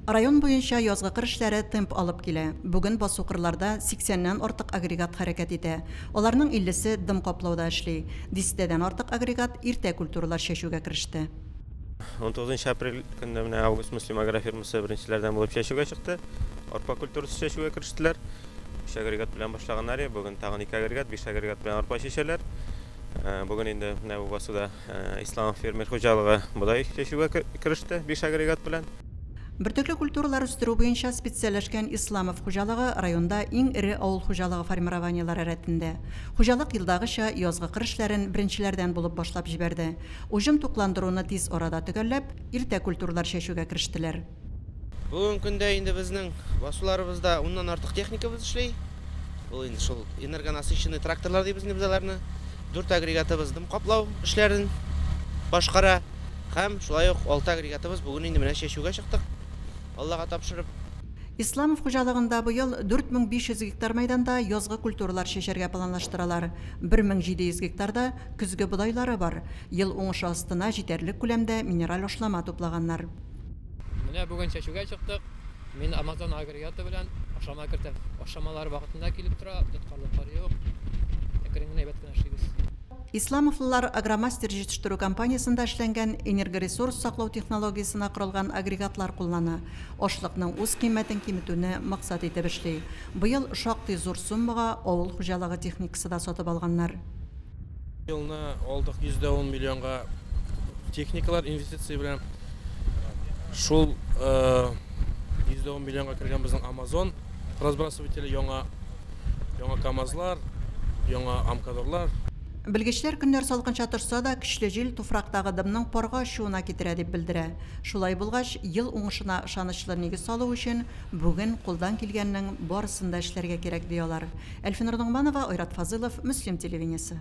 Район буенча язгы кыр эшләре темп алып килә. Бүген басу-кырларда 80 ннән артык агрегат хәрәкәт итә. Аларның 50 се дым каплауда эшли. Дистәдән артык агрегат иртә культуралар чәчүгә кереште. Унтугызынчы апрель көнне менә Август Муслим агрофирмасы беренчеләрдән булып чәчүгә чыкты. Арпа культурасы чәчүгә керештеләр. Өч агрегат белән башлаганнар иде, бүген тагын ике агрегат, биш агрегат белән арпа чәчәләр. Бүген инде менә бу басуда Ислам фермер хуҗалыгы бодай чәчүгә кереште биш агрегат белән. Бөртекле культуралар үстерү буенча специальләшкән Исламов хуҗалыгы районда иң эре авыл хуҗалыгы формированиеләре рәтендә. Хуҗалык елдагыча язгы кыр эшләрен беренчеләрдән булып башлап җибәрде. Уҗым тукландыруны тиз арада төгәлләп, иртә культуралар чәчүгә керештеләр. Бүгенге көндә инде безнең басуларыбызда уннан артык техникабыз эшли. Ул инде шул энергонасыщенный тракторлар дибез инде без аларны. Дүрт агрегатыбыз дым каплау эшләрен башкара һәм шулай ук алты агрегатыбыз бүген инде менә чәчүгә чыктык, Аллага тапшырып. Исламов хуҗалыгында быел 4500 гектар мәйданда язгы культуралар чәчәргә планлаштыралар. 1700 гектарда көзге бодайлары бар. Ел уңышы астына җитәрлек күләмдә минераль ашлама туплаганнар. Менә бүген чәчүгә чыктык. Мин Amazon агрегаты белән ашама кертәм. Ашамалар вакытында килеп тора, тоткарлыклар юк. Әкрен генә әйбәт кенә эшлибез. Исламовлылар Агромастер җитештерү компаниясендә эшләнгән энергоресурс саклау технологиясенә корылган агрегатлар куллана. Ашлыкның үз кыйммәтен киметүне максат итеп эшли. Быел шактый зур суммага авыл хуҗалыгы техникасы да сатып алганнар. Елны алдык 110 миллионга техникалар инвестиция белән. Шул 110 миллионга кергән безнең Amazon разбрасывателе яңа яңа КАМАЗлар, яңа Амкадорлар. Белгечләр көннәр салкынча торса да, көчле җил туфрактагы дымның парга очуына китерә дип белдерә. Шулай булгач, ел уңышына ышанычлы нигез салу өчен, Бүген кулдан килгәннең барысын да эшләргә кирәк, ди алар. Әлфинур Ногманова, Айрат Фазылов, Мөслим телевидениесе.